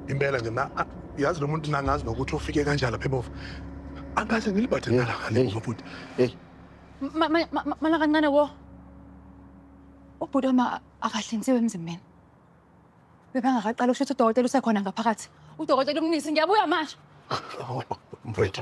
impela nje mna a- yazi lo muntu nangazi nokuthi ufike kanjani lapha emuva angase ngilibhathe nalakalemuva bhuti eyi Ma- ma- ma- ma- Mala kancane wo. Ubhuti wami a- akahlinziwe emzimbeni. Bebangakaqali usho ukuthi udokotela usekhona ngaphakathi. Udokotela umnisi ngiyabuya manje. mfowethu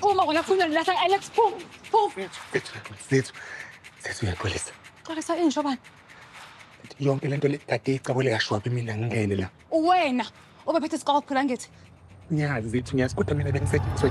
Phuma wena funa nilahla Alex phuma. Phuma. Mfethu, mfethu. Mfethu uyaxolisa. Xolisa injo bani? Yonke lento le kade icabule kashwabi mina ngingene la. Uwena obephethe isiqoko phela ngithi. Ngiyazi mfethu ngiyazi kodwa mina bengisethwe.